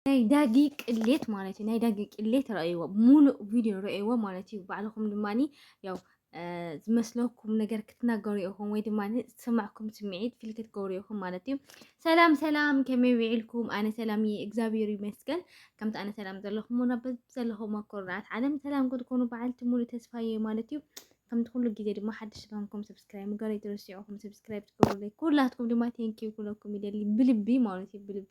ናይ ዳጊ ቅሌት ማለት እዩ ናይ ዳጊ ቅሌት ረእይዎ ሙሉእ ቪድዮ ረእይዎ ማለት እዩ ባዕልኹም ድማ ያው ዝመስለኩም ነገር ክትናገሩ ኢኹም ወይ ድማ ዝስማዕኩም ስምዒት ፊል ክትገብሩ ኢኹም ማለት እዩ ሰላም ሰላም ከመይ ውዒልኩም ኣነ ሰላም እየ እግዚኣብሔር ይመስገን ከምቲ ኣነ ሰላም ዘለኹም ና ዘለኹም ኣኮርናት ዓለም ሰላም ክትኮኑ በዓልቲ ሙሉ ተስፋ እየ ማለት እዩ ከምቲ ኩሉ ግዜ ድማ ሓድሽ ስለሆንኩም ሰብስክራይብ ምግባር ኣይትረስዑ ኹም ሰብስክራይብ ትገብሩለይ ኩላትኩም ድማ ቴንኪዩ ኩለኩም ይደሊ ብልቢ ማለት እዩ ብልቢ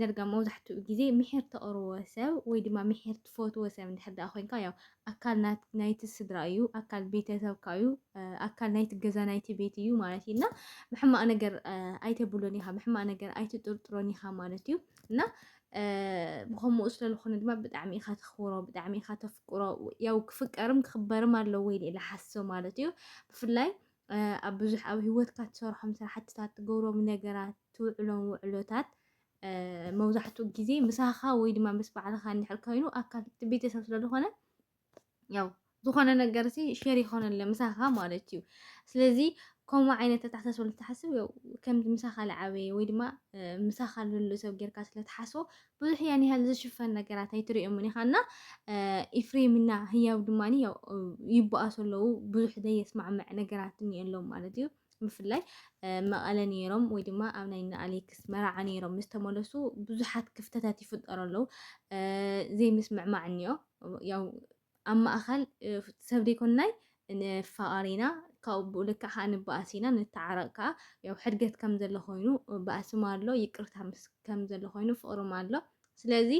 ደርጋ መብዛሕትኡ ግዜ ምሒር ተቕርቦ ሰብ ወይ ድማ ምሒር ትፈትዎ ሰብ እንድሕር ደኣ ኮይንካ ያው ኣካል ናይቲ ስድራ እዩ፣ ኣካል ቤተሰብካ እዩ፣ ኣካል ናይቲ ገዛ ናይቲ ቤት እዩ ማለት እዩ እና ብሕማቕ ነገር ኣይተብሎን ኢኻ፣ ብሕማቕ ነገር ኣይትጥርጥሮን ኢኻ ማለት እዩ እና ብከምኡ ስለዝኾነ ድማ ብጣዕሚ ኢኻ ተኽብሮ ብጣዕሚ ኢኻ ተፍቅሮ ያው ክፍቀርም ክኽበርም ኣለዎ ኢለ ኢለ ሓስብ ማለት እዩ ብፍላይ ኣብ ብዙሕ ኣብ ሂወትካ ትሰርሖም ስራሕትታት ትገብሮም ነገራት ትውዕሎም ውዕሎታት መብዛሕትኡ ግዜ ምሳኻ ወይ ድማ ምስ ባዕልኻ እንድሕር ኮይኑ ኣካል እቲ ቤተሰብ ስለዝኾነ ያው ዝኾነ ነገር ሲ ሼር ይኾነለ ምሳኻ ማለት እዩ ስለዚ ከምኡ ዓይነት ኣተሓሳስባ ልትሓስብ ከምዚ ምሳኻ ልዓበየ ወይ ድማ ምሳኻ ልሉ ሰብ ጌርካ ስለትሓስቦ ብዙሕ ያን ያህል ዝሽፈን ነገራት ኣይትርእዮምን ኢኻ እና ኢፍሬም እና ህያብ ድማ ያው ይበኣሱ ኣለዉ ብዙሕ ዘየስማዕምዕ ነገራት እኒኦሎም ማለት እዩ ብፍላይ መቐለ ነይሮም ወይ ድማ ኣብ ናይ ንኣሌክስ መርዓ ነይሮም ምስ ተመለሱ ብዙሓት ክፍተታት ይፍጠሩ ኣለዉ ዘይምስምዕማዕ እኒኦ ያው ኣብ ማእኸል ሰብ ደይኮንናይ ንፋቐር ኢና ካብኡ ብኡ ልክዕ ከዓ ንበኣስ ኢና ንተዓረቕ ከዓ ያው ሕድገት ከም ዘሎ ኮይኑ በኣስም ኣሎ ይቅርታ ምስ ከም ዘሎ ኮይኑ ፍቕርም ኣሎ ስለዚ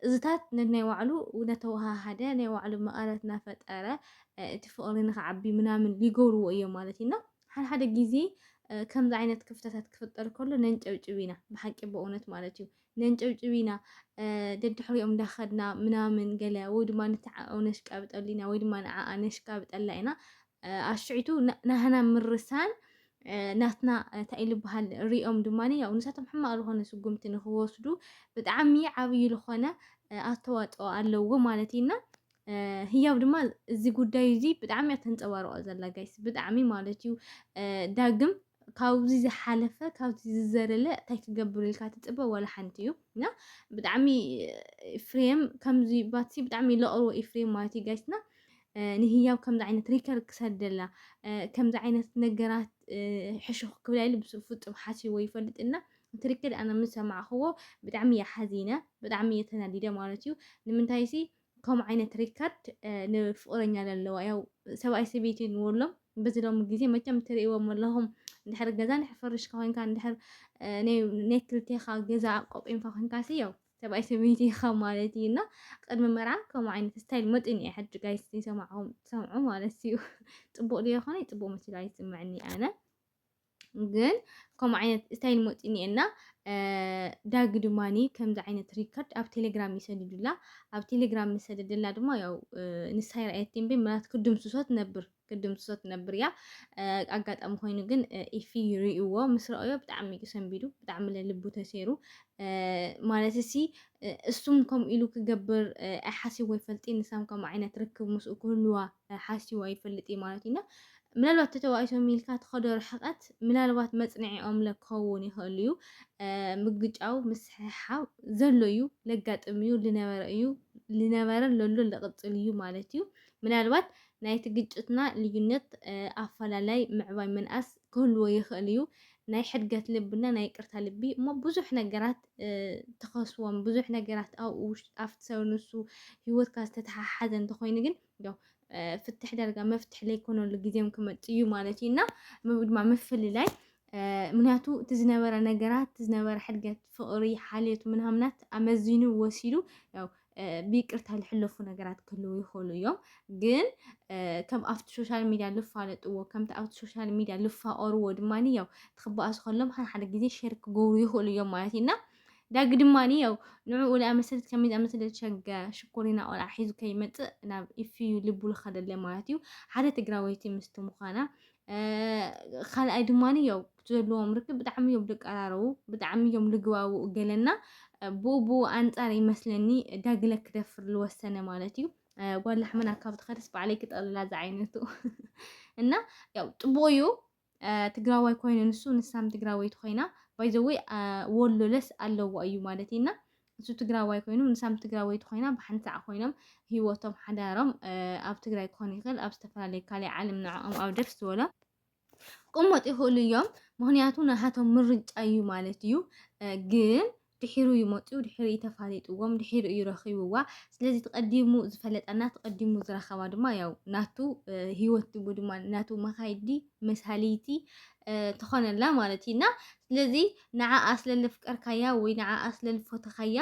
እዝታት ነናይ ባዕሉ ነተወሃሃደ ናይ ባዕሉ መቐረት እናፈጠረ እቲ ፍቕሪ ንክዓቢ ምናምን ሊገብርዎ እዮም ማለት እዩና ሓድሓደ ግዜ ከምዚ ዓይነት ክፍተታት ክፍጠር ከሎ ነንጨብጭብ ኢና ብሓቂ በእውነት ማለት እዩ ነንጨብጭብ ኢና ደድሕሪኦም እንዳኸድና ምናምን ገለ ወይ ድማ ንተዓኡ ነሽቃብጠሉ ኢና ወይ ድማ ንዓኣ ነሽቃብጠላ ኢና ኣሽዒቱ ናህና ምርሳን ናትና እንታይ ኢሉ በሃል ሪኦም ድማ ያው ንሳቶም ሕማቕ ዝኾነ ስጉምቲ ንክወስዱ ብጣዕሚ ዓብዪ ዝኾነ ኣስተዋፅኦ ኣለዎ ማለት እዩና ህያብ ድማ እዚ ጉዳይ እዚ ብጣዕሚ እያ ተንፀባርቆ ዘላ ጋይስ ብጣዕሚ ማለት እዩ ዳግም ካብዚ ዝሓለፈ ካብዚ ዝዘለለ እንታይ ክገብር ኢልካ ትፅበ ዋላ ሓንቲ እዩ እና ብጣዕሚ ኢፍሬም ከምዚ ባትሲ ብጣዕሚ ለቕርቦ ኢፍሬም ማለት እዩ ጋይስና ንህያብ ከምዚ ዓይነት ሪከር ክሰደላ ከምዚ ዓይነት ነገራት ሕሹኽ ክብላ ኢሉ ብሱ ፍፁም ሓሲቦ ይፈልጥ እና እቲ ሪከር ኣነ ምስ ሰማዕኽዎ ብጣዕሚ እየ ሓዚነ ብጣዕሚ እየ ተናዲደ ማለት እዩ ንምንታይ ሲ ከምኡ ዓይነት ሪካርድ ንፍቅረኛ ለለዋ ያው ሰብኣይ ሰበይቲ ንብሎም በዚ ሎሚ ግዜ መቸም ትርእዎም ኣለኹም እንድሕር ገዛ እንድሕር ፈርሽካ ኮንካ እንድሕር ናይ ክልቴኻ ገዛ ቆጲምካ ኮንካሲ ያው ሰብኣይ ሰበይቲ ኢኻ ማለት እዩ እና ቅድሚ መርዓ ከምኡ ዓይነት ስታይል መጥን እየ ሕጂ ጋይስ ይሰማዕኹም ትሰምዑ ማለት እዩ ፅቡቅ ድዮ ይኾነ ፅቡቅ መሲሉ ኣይስምዕኒ ኣነ ግን ከምኡ ዓይነት እንታይ ንመፅኡ እኒኤና ዳጊ ድማኒ ከምዚ ዓይነት ሪከርድ ኣብ ቴሌግራም ይሰድዱላ ኣብ ቴሌግራም ምሰደደላ ድማ ያው ንሳ ይርኣየት እምበይ ምናት ክድምስሶ ትነብር ክድምስሶ ትነብር እያ ኣጋጣሚ ኮይኑ ግን ኢፊ ይርእዎ ምስ ረኣዮ ብጣዕሚ እዩ ሰንቢዱ ብጣዕሚ ለልቡ ተሰይሩ ማለት እሲ እሱም ከምኡ ኢሉ ክገብር ሓሲቦ ይፈልጥ ንሳም ከምኡ ዓይነት ርክብ ምስኡ ክህልዋ ሓሲቦ ይፈልጥ ማለት እዩና ምናልባት ተተባኢሶም ኢልካ ትኸዶ ርሕቐት ምናልባት መጽንዒኦም ለ ክኸውን ይኽእል እዩ። ምግጫው ምስሕሓብ ዘሎ እዩ፣ ለጋጥም እዩ፣ ልነበረ እዩ፣ ልነበረን ለሎን ልቕጽል እዩ ማለት እዩ። ምናልባት ናይቲ ግጭትና ልዩነት ኣፈላላይ ምዕባይ ምንኣስ ክህልዎ ይኽእል እዩ። ናይ ሕድገት ልብና ናይ ቅርታ ልቢ እሞ ብዙሕ ነገራት ትኸስዎም ብዙሕ ነገራት ኣብኡ ኣብቲ ሰብ ንሱ ሂወትካ ዝተተሓሓዘ እንተኾይኑ ግን እንዶ ፍትሕ ዳርጋ መፍትሕ ለይኮነሉ ግዜም ክመፅ እዩ ማለት እዩ እና ድማ ምፍልላይ ምክንያቱ እቲ ዝነበረ ነገራት እቲ ዝነበረ ሕድገት ፍቕሪ ሓልዮት ምናምናት ኣመዚኑ ወሲዱ ያው ብይቅርታ ዝሕለፉ ነገራት ክህልው ይኽእሉ እዮም ግን ከም ኣብቲ ሶሻል ሚድያ ልፋለጥዎ ከምቲ ኣብቲ ሶሻል ሚድያ ልፋቐርዎ ድማ ያው ትክበኣሱ ከሎም ሓደ ሓደ ግዜ ሸር ክገብሩ ይኽእሉ እዮም ማለት እዩ እና ዳጊ ድማ ያው ንዕኡ ንኣመሰልት ከመይ ዝኣመሰለ ሸገ ሽኮሪና ቆልዓ ሒዙ ከይመፅእ ናብ ኢፍዩ ልቡ ዝኸደለ ማለት እዩ ሓደ ትግራወይቲ ምስቲ ምዃና ካልኣይ ድማ ያው ዘለዎም ርክብ ብጣዕሚ እዮም ዝቀራረቡ ብጣዕሚ እዮም ልግባብኡ ገለና ብኡ ኣንፃር ይመስለኒ ዳግለ ክደፍር ዝወሰነ ማለት እዩ ጓል ላሕመና ካብ ትኸደስ ባዕለይ ክጠልላ ዝዓይነቱ እና ያው ፅቡቅ እዩ ትግራዋይ ኮይኑ ንሱ ንሳም ትግራወይቲ ኮይና ባይዘወይ ወሎ ለስ ኣለዋ እዩ ማለት እና ንሱ ትግራዋይ ኮይኑ ንሳም ትግራወይቲ ኮይና ብሓንሳዕ ኮይኖም ህይወቶም ሓዳሮም ኣብ ትግራይ ክኾን ይኽእል ኣብ ዝተፈላለየ ካልእ ዓለም ንዕኦም ኣብ ደስ ዝበሎ ክቕመጡ ይኽእሉ እዮም። ምክንያቱ ናሃቶም ምርጫ እዩ ማለት እዩ ግን ድሒሩ እዩ መፂኡ፣ ድሒሩ እዩ ተፋሊጥዎም፣ ድሒሩ እዩ ረኺብዋ። ስለዚ እቲ ቀዲሙ ዝፈለጠና እቲ ቀዲሙ ዝረኸባ ድማ ያው ናቱ ህይወት ድሙ ድማ ናቱ መኻይዲ መሳልይቲ ትኾነላ ማለት እዩ እና ስለዚ ንዓኣ ስለለፍቀርካያ ወይ ንዓኣ ስለልፈተኻያ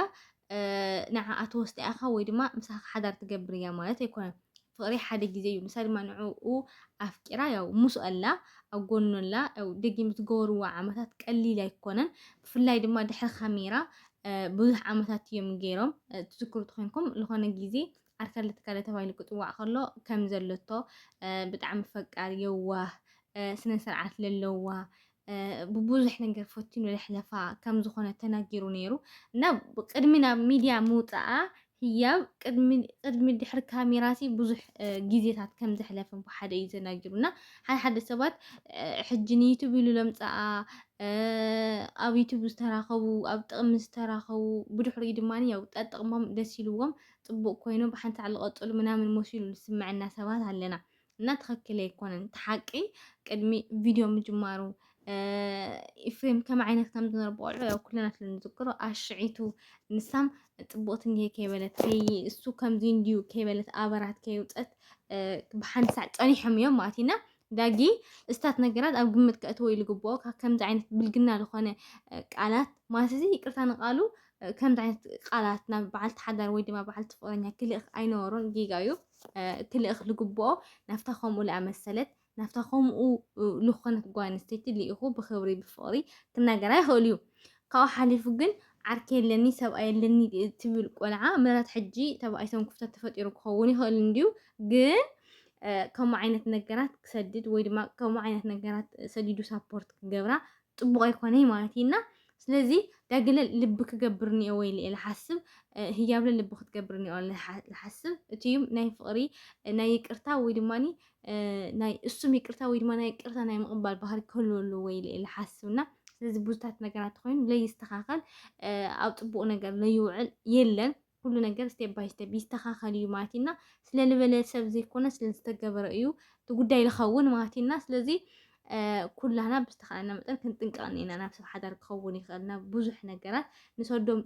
ንዓኣ ተወስዳ ኢኻ ወይ ድማ ምሳኻ ሓዳር ትገብር እያ ማለት ኣይኮነን። ፍቅሪ ሓደ ግዜ እዩ ንሳ ድማ ንዕኡ ኣፍቂራ ያው ሙሱ ኣላ ኣብ ጎኑ ኣላ ያው ደጊም ዝገበርዎ ዓመታት ቀሊል ኣይኮነን ብፍላይ ድማ ድሕሪ ካሜራ ብዙሕ ዓመታት እዮም ገይሮም ትዝክሩ ተኮይንኩም ዝኾነ ግዜ ዓርከለ ትካለ ተባሂሉ ክፅዋዕ ከሎ ከም ዘለቶ ብጣዕሚ ፈቃር የዋህ ስነ ስርዓት ለለዋ ብቡዙሕ ነገር ፈቲኑ ለሕለፋ ከም ዝኾነ ተናጊሩ ነይሩ እና ቅድሚ ናብ ሚድያ ምውፃኣ ህያብ ቅድሚ ድሕሪ ካሜራሲ ብዙሕ ግዜታት ከም ዘሕለፈ ብሓደ እዩ ተናጊሩ እና ሓደ ሓደ ሰባት ሕጂ ንዩቱብ ኢሉ ለምፀኣ ኣብ ዩቱብ ዝተራኸቡ ኣብ ጥቕሚ ዝተራኸቡ ብድሕሪኡ ድማ ያው ጠጥቕሞም ደስ ኢልዎም ፅቡቅ ኮይኑ ብሓንቲ ዓሊ ቀፅሉ ምናምን መሲሉ ዝስምዐና ሰባት ኣለና እና ትክክል ኣይኮነን እቲ ሓቂ ቅድሚ ቪድዮ ምጅማሩ ኢፍሬም ከም ዓይነት ከም ዝነበረ ቆልዑ ያው ኩልና ስለ ንዝክሮ ኣሽዒቱ ንሳም ፅቡቕቲ እንሄ ከይበለት ከይ እሱ ከምዚ እንድዩ ከይበለት ኣበራት ከይውፀት ብሓንቲ ሳዕ ፀኒሖም እዮም ማለት ኢና ዳጊ እስታት ነገራት ኣብ ግምት ከእትዎ ኢሉ ግብኦ ከምዚ ዓይነት ብልግና ዝኾነ ቃላት ማለት እዚ ይቅርታ ንቃሉ ከምዚ ዓይነት ቃላት ናብ በዓልቲ ሓዳር ወይ ድማ በዓልቲ ፍቅረኛ ክልእኽ ኣይነበሮን ጌጋ እዩ እቲ ልእኽ ልግብኦ ናብታ ከምኡ ልኣመሰለት ናብታ ከምኡ ልኾነት ጓል ኣንስተይቲ ልኢኹ ብኽብሪ ብፍቕሪ ክናገራ ይኽእል እዩ። ካብኡ ሓሊፉ ግን ዓርኪ የለኒ ሰብኣይ የለኒ ትብል ቆልዓ ምረት ሕጂ ተባኢሶም ክፍተት ተፈጢሩ ክኸውን ይኽእል እንድዩ ግን ከምኡ ዓይነት ነገራት ክሰድድ ወይ ድማ ከምኡ ዓይነት ነገራት ሰዲዱ ሳፖርት ክገብራ ጥቡቕ ኣይኮነይ ማለት እዩ እና ስለዚ ዳግለ ልቢ ክገብር እኒኦ ወይ ኢለ ልሓስብ ህያብለ ልቢ ክትገብር እኒኦ ልሓስብ እቲ እዩ ናይ ፍቕሪ ናይ ይቅርታ ወይ ድማ ናይ እሱም ይቅርታ ወይ ድማ ናይ ይቅርታ ናይ ምቕባል ባህሪ ክህልዎ ኣለዎ ወይ ኢለ ልሓስብ እና ስለዚ ብዙታት ነገራት ኮይኑ ለይስተኻኸል ኣብ ጥቡቕ ነገር ለይውዕል የለን ኩሉ ነገር ስቴፕ ባይ ስቴፕ ይስተኻኸል እዩ ማለት እና ስለ ዝበለ ሰብ ዘይኮነ ስለ ዝተገበረ እዩ እቲ ጉዳይ ዝኸውን ማለት እና ስለዚ ኩላና ብዝተኻእለና መጠን ክንጥንቀቕ እኒና ናብ ሰብ ሓዳር ክኸውን ይኽእል ናብ ብዙሕ ነገራት ንሰዶም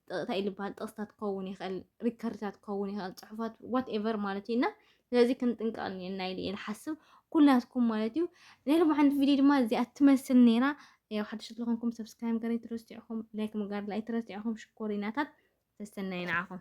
ጥቕታ ኢልበሃል ጥቕስታት ክኸውን ይኽእል ሪከርድታት ክኸውን ይኽእል ፅሑፋት ዋት ኤቨር ማለት እዩ እና ስለዚ ክንጥንቀቕ እኒኤና ኢለ እየ ዝሓስብ ኩላትኩም ማለት እዩ ናይ ሎም ሓንቲ ቪድዮ ድማ እዚኣ ትመስል ነይራ ያው ሓድሽ ስለኾንኩም ሰብስክራይብ ገር ኣይትረስዕ ኢኹም ላይክ ምግባር ኣይትረስዕ ኢኹም ሽኮሪናታት ተስተናይ ንዓኹም